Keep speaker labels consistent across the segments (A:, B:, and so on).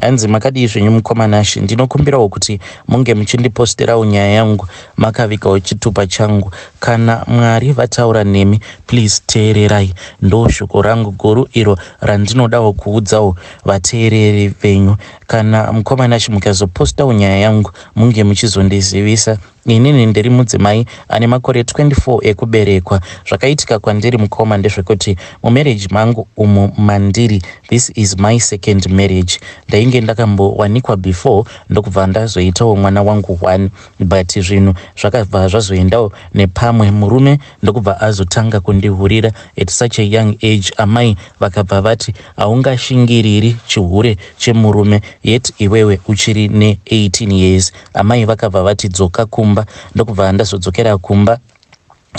A: Hanzi makadii zvenyu mukoma Nashy ndinokumbirawo kuti munge muchindiposterawo nyaya yangu makavikawo chitupa changu kana Mwari vataura nemi please teererai ndoshoko rangu guru iro randinodawo kuudzawo vateereri venyu kana mukoma Nashy mukazopostawo nyaya yangu munge muchizondizivisa Inini ndiri mudzimai ane makore 24 ekuberekwa. Zvakaitika kwandiri mukoma ndezvekuti mumarriage mangu umu mandiri, this is my second marriage. Ndainge ndakambowanikwa before ndokubva ndazoitawo mwana wangu one but zvinhu zvakabva zvazoendawo nepamwe murume ndokubva azotanga kundihurira at such a young age. Amai vakabva vati haungashingiriri chihure chemurume yet iwewe uchiri ne 18 years. Amai vakabva vati dzoka kumba ndokubva ndazodzokera kumba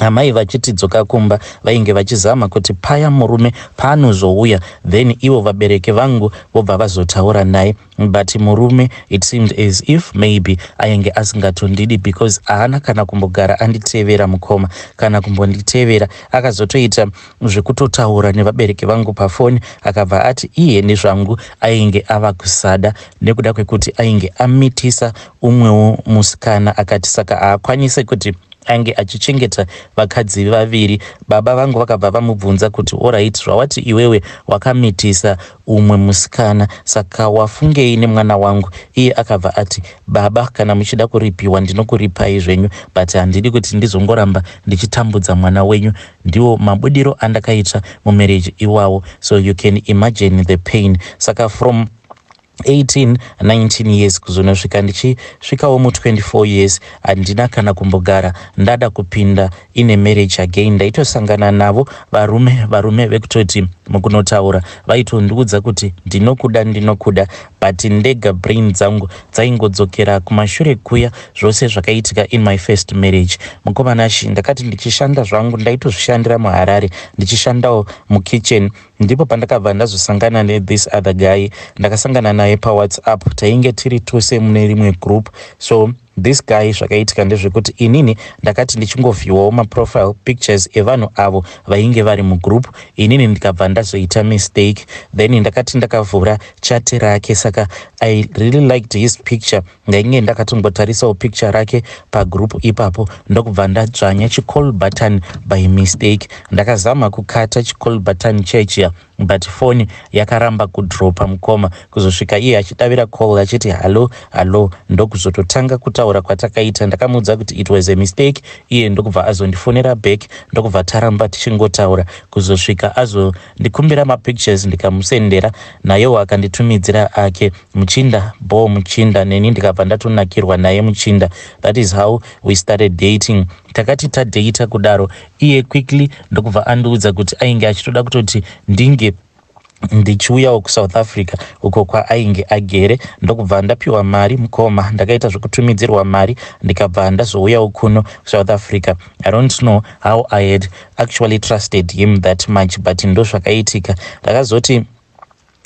A: amai vachiti dzoka kumba vainge vachizama kuti paya murume paanozouya then ivo vabereki vangu vobva vazotaura naye but murume it seemed as if maybe ainge asingatondidi because haana kana kumbogara anditevera mukoma kana kumbonditevera akazotoita zvekutotaura nevabereki vangu pafoni akabva ati iye nezvangu ainge ava kusada nekuda kwekuti ainge amitisa umwewo musikana akati saka haakwanise kuti ange achichengeta vakadzi vaviri baba vangu vakabva vamubvunza kuti orit zvawati iwewe wakamitisa umwe musikana saka wafungei nemwana wangu iye akabva ati baba kana muchida kuripiwa ndinokuripai zvenyu but handidi kuti ndizongoramba ndichitambudza mwana wenyu Ndiwo mabudiro andakaita mumarriage iwawo so you can imagine the pain saka from 18 19 years kuzonosvika ndichisvikawo mu 24 years handina kana kumbogara ndada kupinda ine marriage again ndaitosangana navo varume varume vekutoti mukunotaura vaitondiudza kuti ndinokuda ndinokuda but ndega brain dzangu dzaingodzokera kumashure kuya zvose zvakaitika in my first marriage mukoma nashi ndakati ndichishanda zvangu ndaitozvishandira muharare ndichishandawo mukitchen ndipo pandakabva ndazosangana nethis other guy ndakasangana naye pawhatsapp tainge tiri tose mune rimwe group so This guy zvakaitika ndezvekuti inini ndakati ndichingovhiywawo maprofile pictures evanhu avo vainge vari mugroup inini ndikabva ndazoita mistake then ndakati ndakavhura chate rake saka i really liked his picture ndainge ndakatongotarisawo picture rake pagroup ipapo ndokubva ndadzvanya chicall button by mistake ndakazama kukata chicall button chechia But phone yakaramba kudropa mukoma kuzosvika iye achidavira call achiti hallo hallo ndokuzototanga kutaura kwatakaita ndakamuudza kuti it was a mistake iye ndokubva azondifonera back ndokubva taramba tichingotaura kuzosvika azondikumbira mapictures ndikamusendera nayewo akanditumidzira ake muchinda bo muchinda neni ndikabva ndatonakirwa naye muchinda that is how we started dating takati tadata kudaro iye quickly ndokubva andiudza kuti ainge achitoda kutoti ndinge ndichiuyawo kusouth africa uko kwaainge agere ndokubva ndapiwa mari mukoma ndakaita zvekutumidzirwa mari ndikabva ndazouyawo kuno south africa i don't know how i had actually trusted him that much but ndozvakaitika ndakazoti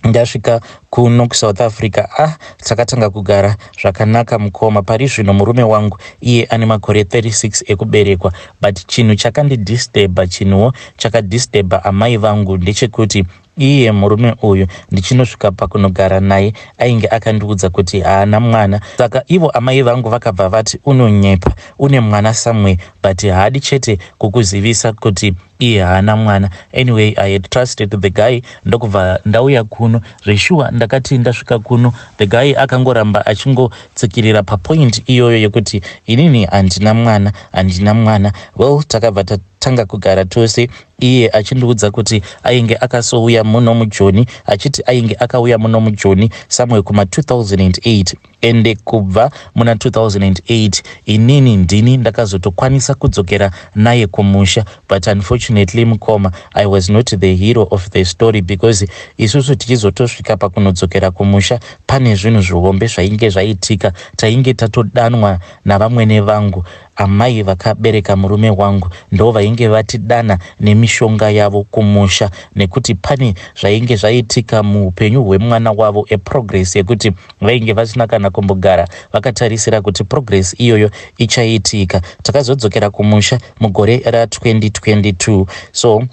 A: ndasvika kuno kusouth africa ah takatanga kugara zvakanaka mukoma pari zvino murume wangu iye ane makore 36 ekuberekwa but chinhu chakandidisturba chinhuwo chakadisturba amai vangu ndechekuti iye murume uyu ndichinosvika pakunogara naye ainge akandiudza kuti haana mwana saka ivo amai vangu vakabva vati unonyepa une mwana somewhere but haadi chete kukuzivisa kuti iye haana mwana anyway i had trusted the guy ndokubva ndauya kuno zveshuwa ndakati ndasvika kuno the guy akangoramba achingotsikirira papoint iyoyo yekuti inini handina mwana handina mwana well takabva tatanga kugara tose iye achindiudza kuti ainge akasouya muno mujoni achiti ainge akauya muno mujoni somewhere kuma 2008 ende kubva muna 2008 inini ndini ndakazotokwanisa kudzokera naye kumusha but unfortunately mukoma i was not the hero of the story because isusu tichizotosvika pakunodzokera kumusha pane zvinhu zvihombe zvainge zvaitika tainge tatodanwa navamwene vangu amai vakabereka murume wangu ndo vainge vatidana nemishonga yavo kumusha nekuti pane zvainge zvaitika muupenyu hwemwana wavo eprogress yekuti vainge vasina kana kumbogara vakatarisira kuti progress iyoyo ichaitika takazodzokera kumusha mugore ra2022 so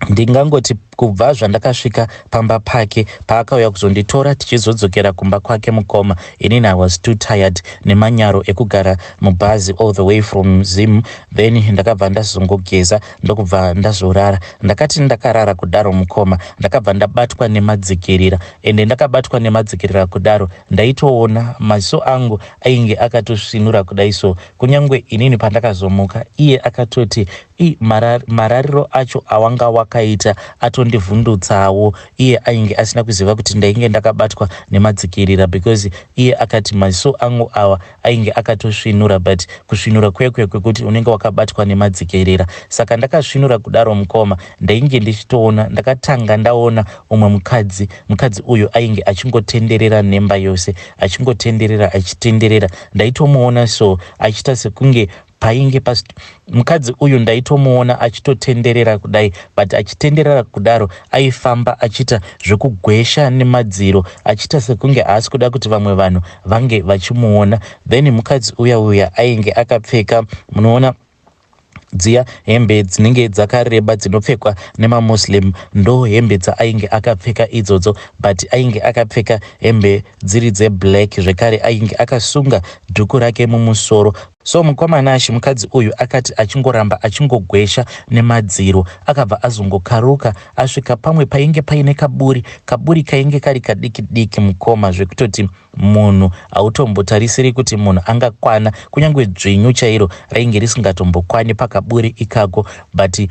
A: ndingangoti kubva zvandakasvika pamba pake paakauya kuzonditora tichizodzokera kumba kwake mukoma inini i was too tired nemanyaro ekugara mubhazi all the way from zim then ndakabva ndazongogeza ndokubva ndazorara ndakati ndakarara kudaro mukoma ndakabva ndabatwa nemadzikirira ende ndakabatwa nemadzikerera kudaro ndaitoona maziso angu ainge akatosvinura kudai so kunyange inini pandakazomuka iye akatoti i marar, marariro acho awanga wakaita atondivhundutsawo iye ainge asina kuziva kuti ndainge ndakabatwa nemadzikirira because iye akati maziso angu awa ainge akatosvinura but kusvinura kwekwe kwekuti unenge wakabatwa nemadzikerera saka ndakasvinura kudaro mukoma ndainge ndichitoona ndakatanga ndaona umwe mukadzi mukadzi uyu ainge achingotenderera nemba yose achingotenderera achitenderera ndaitomuona so achiita sekunge painge pas mukadzi uyu ndaitomuona achitotenderera kudai but achitenderera kudaro aifamba achiita zvekugwesha nemadziro achiita sekunge haasi kuda kuti vamwe vanhu vange vachimuona then mukadzi uya uya ainge akapfeka munoona dziya hembe dzinenge dzakareba dzinopfekwa nemamuslim ndo hembe dzaainge akapfeka idzodzo but ainge akapfeka hembe dziri dzeblack zvekare ainge akasunga dhuku rake mumusoro So mukoma Nash mukadzi uyu akati achingoramba achingogwesha nemadziro akabva azongokaruka asvika pamwe painge paine kaburi. Kaburi kainge kari kadiki diki mukoma zvekutoti munhu hautombotarisiri kuti munhu angakwana kunyange dzvinyu chairo rainge risingatombokwani pakaburi ikako but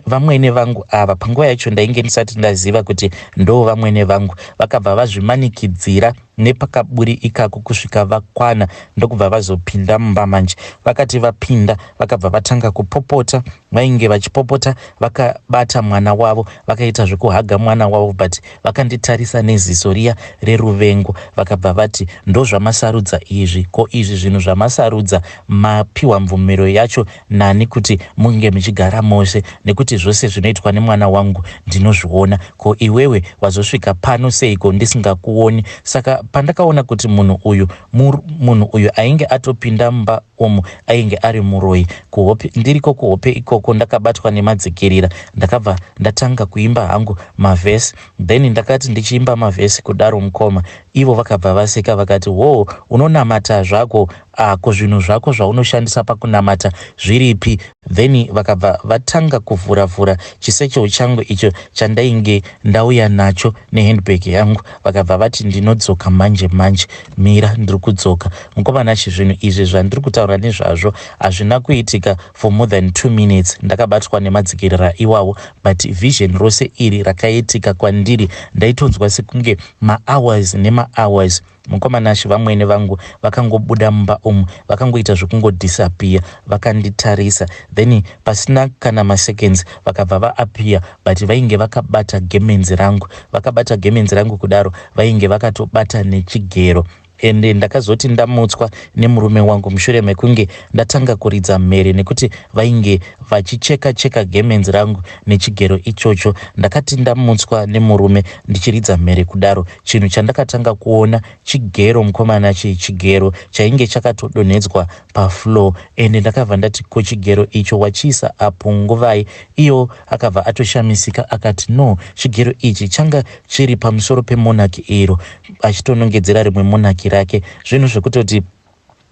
A: vamwene vangu ava panguva yacho ndainge ndisati ndaziva kuti ndo vamwene vangu vakabva vazvimanikidzira nepakaburi ikako kusvika vakwana ndokubva vazopinda mumba manje vakati vapinda vakabva vatanga kupopota vainge vachipopota vakabata mwana wavo vakaita zvekuhaga mwana wavo but vakanditarisa neziso riya reruvengo vakabva vati ndozvamasarudza izvi ko izvi zvinhu zvamasarudza mapiwa mvumiro yacho Nani kuti munge muchigara mose nekuti zvose zvinoitwa nemwana wangu ndinozviona. Ko iwewe wazosvika pano seiko ndisingakuoni? Saka pandakaona kuti munhu uyu mur, munhu uyu ainge atopinda mumba umu ainge ari muroyi. Kuhope, ndiriko kuhope ikoko ndakabatwa nemadzikirira. Ndakabva ndatanga kuimba hangu mavhesi. Then ndakati ndichiimba mavhesi kudaro mukoma ivo vakabva vaseka vakati, Hoo unonamata zvako Ah ko zvinhu zvako zvaunoshandisa pakunamata zviripi? Then vakabva vatanga kuvhura vhura chisechel changu icho chandainge ndauya nacho nehandbag yangu vakabva vati ndinodzoka manje manje mira ndiri kudzoka. Mukoma Nashy zvinhu izvi zvandiri kutaura nezvazvo hazvina kuitika for more than two minutes ndakabatwa nemadzikirira iwawo but vision rose iri rakaitika kwandiri ndaitonzwa sekunge mahours nemahours Mukoma Nashy vamwene vangu vakangobuda mumba umu vakangoita zvekungodisappear vakanditarisa then pasina kana maseconds vakabva vaappear but vainge vakabata gemenzi rangu vakabata gemenzi rangu kudaro vainge vakatobata nechigero ende ndakazoti ndamutswa nemurume wangu mushure mekunge ndatanga kuridza mhere nekuti vainge vachicheka cheka gemenzi rangu nechigero ichocho ndakati ndamutswa nemurume ndichiridza mhere kudaro Chinhu chandakatanga kuona chigero mukomana chii chigero chainge chakatodonhedzwa pafloor ende ndakabva ndati ko chigero icho wachiisa apo nguvai iyo akabva atoshamisika akati no chigero ichi changa chiri pamusoro pemonaki iro achitonongedzera rimwe monaki rake zvinhu zvekutoti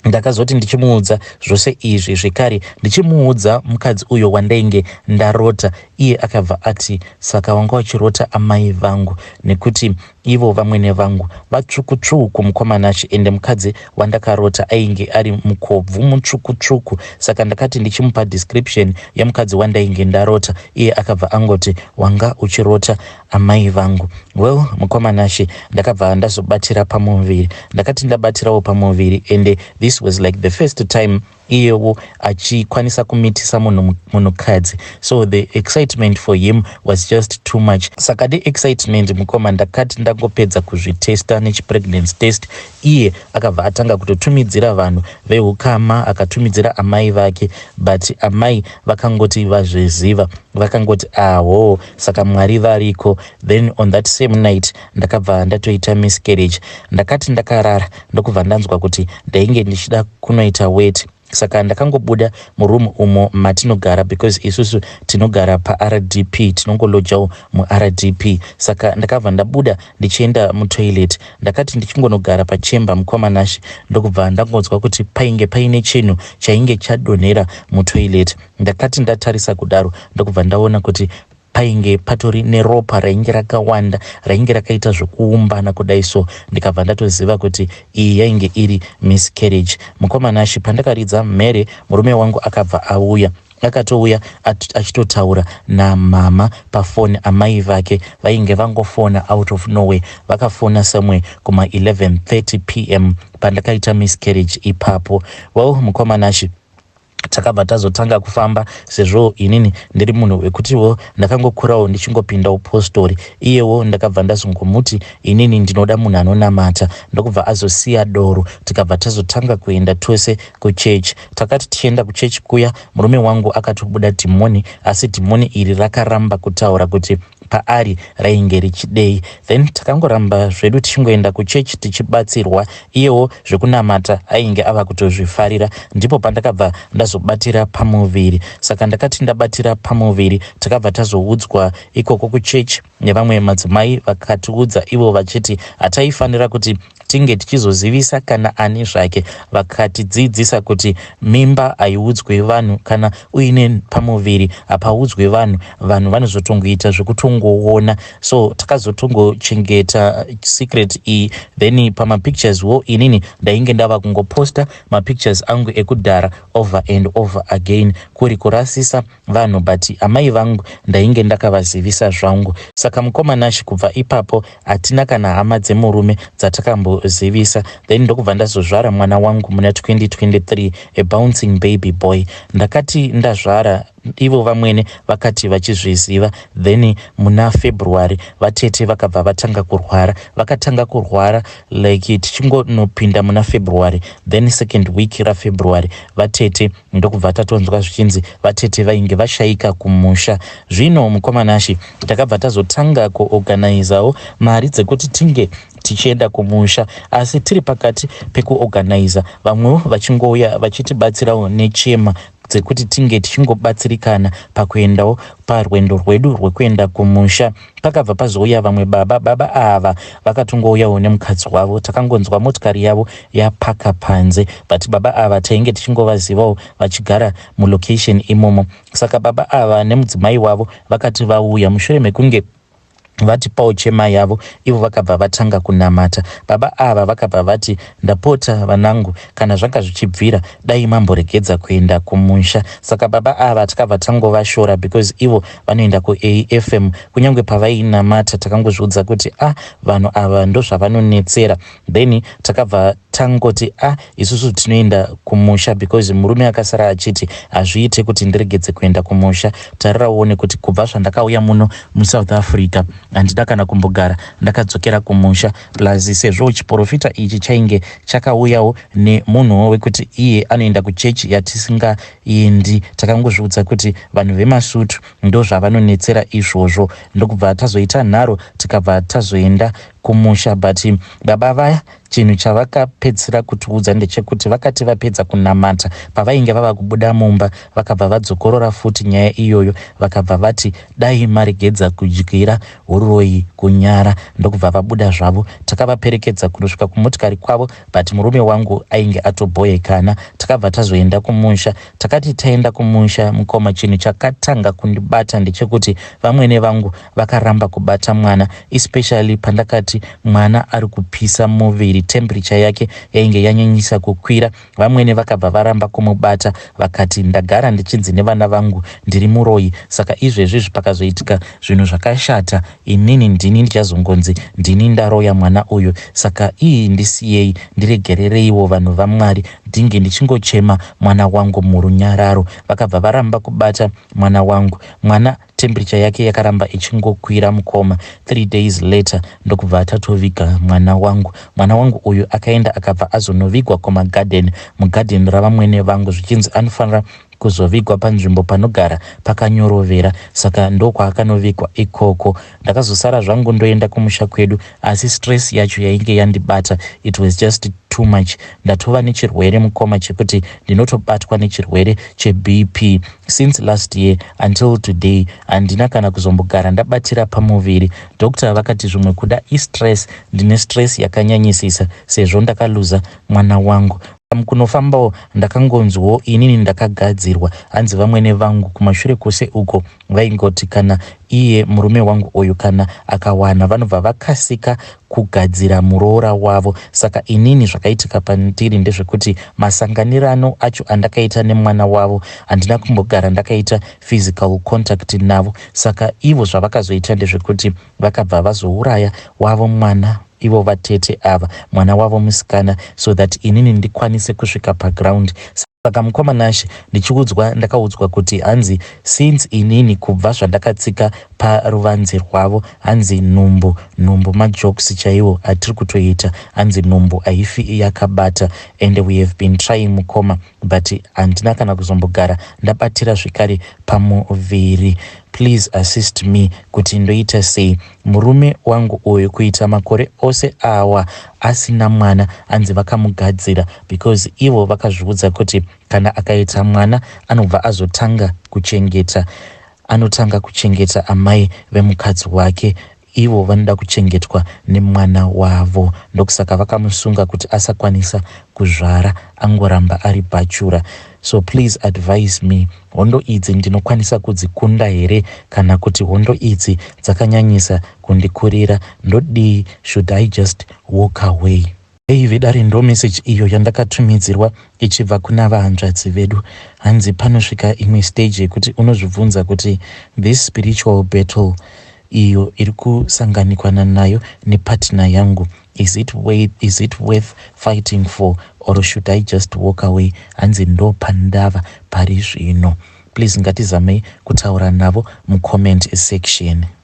A: Ndakazoti ndichimuudza zvose izvi zvekare ndichimuudza mukadzi uyo wandainge ndarota iye akabva ati saka wanga wachirota amai vangu nekuti ivo vamwene vangu vatsvukutsvuku mukomana achi ende mukadzi wandakarota ainge ari mukobvu mutsvukutsvuku saka ndakati ndichimupa description yemukadzi wandainge ndarota iye akabva angoti wanga uchirota Amai vangu. Well mukoma Nashe ndakabva ndazobatira pamuviri. Ndakati ndabatirawo pamuviri ende this was like the first time iyewo achikwanisa kumitisa munhu munhukadzi so the excitement for him was just too much saka the excitement mukoma ndakati ndangopedza kuzvitesta nechipregnancy test iye akabva atanga kutotumidzira vanhu veukama akatumidzira amai vake but amai vakangoti vazviziva vakangoti aho saka mwari variko then on that same night ndakabva ndatoita miscarriage ndakati ndakarara ndokubva ndanzwa kuti ndainge ndichida kunoita wet saka ndakangobuda muroom umo matinogara because isusu tinogara paRDP tinongolojawo muRDP saka ndakabva ndabuda ndichienda mutoilet ndakati ndichingonogara pachemba mukoma Nash ndokubva ndangonzwa kuti painge paine chinhu chainge chadonhera mutoilet Ndakati ndatarisa kudaro ndokubva ndaona kuti painge patori neropa rainge rakawanda rainge rakaita zvekuumbana kudai so ndikabva ndatoziva kuti iyi yainge iri miscarriage mukoma nashi pandakaridza mhere murume wangu akabva auya akatouya achitotaura namama pafoni amai vake vainge vangofona out of norway vakafona somewhere kuma 1130 p m pandakaita miscarriage ipapo well mukoma nashi takabva tazotanga kufamba sezvo inini ndiri munhu wekutiwo ndakangokurawo ndichingopinda upostori iyewo ndakabva ndazongomuti inini ndinoda munhu anonamata ndokubva azosiya doro tikabva tazotanga kuenda tose kuchechi takati tichienda kuchechi kuya murume wangu akatobuda dhimoni asi dhimoni iri rakaramba kutaura kuti paari rainge richidei then takangoramba zvedu tichingoenda kuchechi tichibatsirwa iyewo zvekunamata ainge ava kutozvifarira ndipo pandakabva ndazobatira pamuviri saka ndakati ndabatira pamuviri takabva tazoudzwa ikoko kuchechi nevamwe madzimai vakatiudza ivo vachiti hataifanira kuti tinge tichizozivisa kana ani zvake vakatidzidzisa kuti mimba haiudzwe vanhu kana uine pamuviri hapaudzwe vanhu vanhu vanozotongoita zvekutongoona so takazotongochengeta secret iyi then pamapictures wo inini ndainge ndava kungoposta mapictures angu ekudhara over and over again kuri kurasisa vanhu but amai vangu ndainge ndakavazivisa zvangu saka mukoma Nash kubva ipapo hatina kana hama dzemurume dzatakambozivisa then ndokubva ndazozvara mwana wangu muna 2023 a bouncing baby boy ndakati ndazvara ivo vamwene vakati vachizviziva then muna february vatete vakabva vatanga kurwara vakatanga kurwara like tichingonopinda muna february then second week rafebruary vatete ndokubva tatonzwa zvichinzi vatete vainge vashaika kumusha zvino mukoma nashe takabva tazotanga kuorganizawo mari dzekuti tinge tichienda kumusha asi tiri pakati pekuorganiza vamwewo vachingouya vachitibatsirawo nechema dzekuti tinge tichingobatsirikana pakuendawo parwendo rwedu rwekuenda kumusha Pakabva pazouya vamwe baba, baba ava vakatongouyawo nemukadzi wavo. Takangonzwa motikari yavo yapaka panze but baba ava tainge tichingovazivawo vachigara mulocation imomo. Saka baba ava nemudzimai wavo vakati vauya mushure mekunge vatipawo chema yavo ivo vakabva vatanga kunamata. Baba ava vakabva vati, ndapota vanangu, kana zvanga zvichibvira dai mamboregedza kuenda kumusha saka baba ava tikabva tangovashora because ivo vanoenda kuafm kunyange pavainamata takangozviudza kuti a ah, vanhu ava ndozvavanonetsera then takabva tangoti a ah, isusu tinoenda kumusha because murume akasara achiti hazviite kuti ndiregedze kuenda kumusha tarira uone kuti kubva zvandakauya muno musouth africa handida kana kumbogara ndakadzokera kumusha plus sezvo chiporofita ichi chainge chakauyawo nemunhuwo wekuti iye anoenda kuchechi yatisingaendi takangozviudza kuti vanhu vemasutu ndozvavanonetsera izvozvo ndokubva tazoita nharo tikabva tazoenda kumusha but baba vaya chinhu chavakapedzisira kutiudza ndechekuti vakati vapedza kunamata pavainge vava kubuda mumba vakabva vadzokorora futi nyaya iyoyo vakabva vati dai maregedza kudyira huroyi, kunyara ndokubva vabuda zvavo. Takavaperekedza kunosvika kumotikari kwavo but murume wangu ainge atobhoekana. Takabva tazoenda kumusha. Takati taenda kumusha mukoma chinhu chakatanga kundibata ndechekuti vamwene vangu vakaramba kubata mwana especially pandakati mwana ari kupisa muviri temperature yake yainge yanyanyisa kukwira. Vamwene vakabva varamba kumubata vakati ndagara ndichinzi nevana vangu ndiri muroyi saka izvezvi pakazoitika zvinhu zvakashata inini ndini ndichazongonzi ndini ndaroya mwana uyu saka ii ndisiyei ndiregerereiwo vanhu vaMwari ndinge ndichingochema mwana wangu murunyararo. Vakabva varamba kubata mwana wangu. Mwana Temperature yake yakaramba ichingokwira mukoma. Three days later ndokubva tatoviga mwana wangu. Mwana wangu uyu akaenda akabva azonovigwa kumagarden, mugarden ravamwene vangu zvichinzi anofanira kuzovigwa panzvimbo panogara pakanyorovera saka ndokwakakanovigwa ikoko. Ndakazosara zvangu ndoenda kumusha kwedu. asi stress yacho yainge yandibata it was just too much ndatova nechirwere mukoma chekuti ndinotobatwa nechirwere chebp since last year until today handina kana kuzombogara ndabatira pamuviri doctor vakati zvimwe kuda istress ndine stress yakanyanyisisa sezvo ndakaluza mwana wangu kunofambawo ndakangonzwawo inini ndakagadzirwa hanzi vamwene vangu kumashure kwose uko Vaingoti kana iye murume wangu uyu kana akawana vanobva vakasika kugadzira muroora wavo. Saka inini zvakaitika pandiri ndezvekuti masanganirano acho andakaita nemwana wavo handina kumbogara ndakaita physical contact navo. Saka ivo zvavakazoita ndezvekuti vakabva vazouraya wavo mwana ivo vatete ava mwana wavo musikana so that inini ndikwanise kusvika paground. Saka mukoma Nashe ndichiudzwa ndakaudzwa kuti hanzi since inini kubva zvandakatsika paruvanzi rwavo hanzi nhumbu nhumbu majokes chaiwo atiri kutoita hanzi nhumbu haifi yakabata and we have been trying mukoma but handina kana kuzombogara ndabatira zvekare pamuviri please assist me kuti ndoita sei murume wangu uyu kuita makore ose awa asina mwana hanzi vakamugadzira because ivo vakazviudza kuti kana akaita mwana anobva azotanga kuchengeta anotanga kuchengeta amai vemukadzi wake ivo vanoda kuchengetwa nemwana wavo ndokusaka vakamusunga kuti asakwanisa kuzvara angoramba ari bhachura so please advise me hondo idzi ndinokwanisa kudzikunda here kana kuti hondo idzi dzakanyanyisa kundikurira ndodii should i just walk away Hey vedare ndo message iyo yandakatumidzirwa ichibva kuna vahanzvadzi vedu hanzi panosvika imwe stage yekuti unozvibvunza kuti this spiritual battle iyo iri kusanganikwana nayo nepartner yangu is it, way, is it worth fighting for or should i just walk away hanzi ndo pandava pari zvino please ngatizamei kutaura navo mucomment section